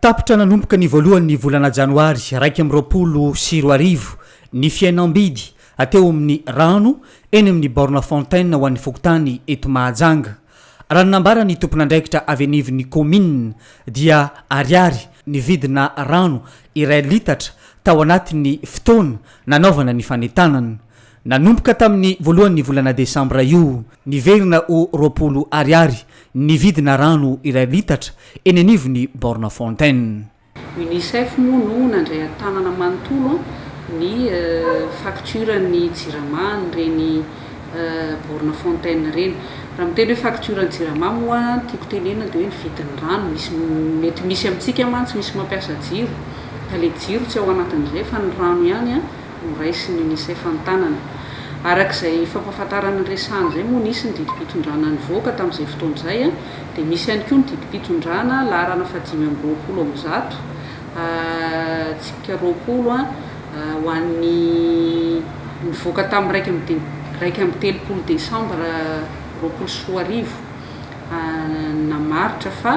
Tapitra nanomboka ny voalohan'ny volana janoary iraika amby roapolo sy roa arivo ny fihenam-bidy ateo amin'ny rano eny amin'ny borne fontaine ho an'ny fokontany eto Mahajanga. Raha ny nambaran'ny tompon'andraikitra avy anivon'ny kaominina dia ariary ny vidina rano iray litatra tao anatin'ny fotoana nanaovana ny fanentanana. Nanomboka tamin'ny voalohan'ny volana desambra io, niverina ho roapolo Ariary ny vidina rano iray litatra eny anivon'ny borne fontaine. Unicef moa no nandray an-tanana manontolo ny faktioran'ny jirama an'ireny borne fontaine ireny. Raha miteny hoe faktioran'ny jirama moa ny tiako tenenina dia hoe ny vidin'ny rano. Misy mety misy amintsika mantsy misy mampiasa jiro ka ilay jiro tsy ao anatin'izay fa ny rano ihany. noraisin'ny Unicef an-tanana. Araka izay fampahafantarana niresahana izay moa nisy ny didim-pitondrana nivoaka tamin'izay fotoana izay dia misy ihany koa ny didim-pitondrana laharana fahadimy amby roapolo amin'ny zato tsipika roapolo ho an'ny nivoaka tamin'ny iraika amby dia iraika amby telopolo desambra roapolo sy roa arivo namaritra fa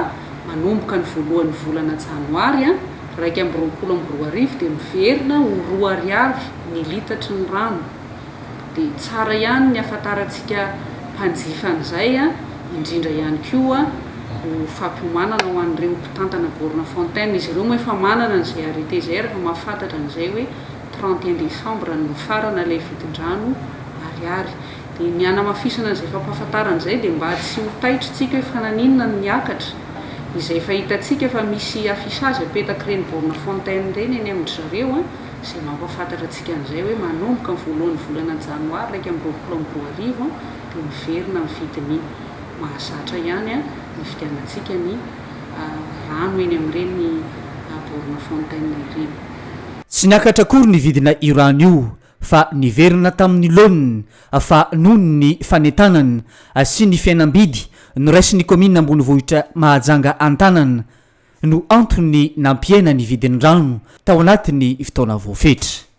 manomboka ny voalohan'ny volana janoary iraika amby roapolo amby roa arivo dia miverina ho roa ariary ny litatry ny rano, dia tsara ihany ny hafantarantsika mpanjifa an'izay, indrindra ihany koa ho fampiomanana ho an'ireo mpitantana borne fontaine, izy ireo moa efa manana an'izay arrêté izay, ary efa mahafantatra an'izay hoe trente et un décembre no mifarana ilay vidin-drano ariary. Dia ny hanamafisana izay fampahafantarana izay dia mba tsy ho taitra tsika hoe fa naninona no niakatra izay efa hitantsika fa misy affichage apetaky ireny borne fontaine ireny eny amin-dry zareo an, izay mampahafantatra antsika an'izay hoe manomboka ny voalohan'ny volana janoary iraika amby roapolo amby roa arivo an, dia miverina amin'ny vidiny mahazatra ihany an, hividianantsika ny rano eny amin'ireny borne fontaine ireny. Tsy niakatra akory ny vidina io rano io fa niverina tamin'ny laoniny fa noho ny fanentanana sy ny fihenam-bidy noraisin'ny kaominina ambonivohitra Mahajanga an-tanana no antony nampihena ny vidin-drano tao anatin'ny fotoana voafetra.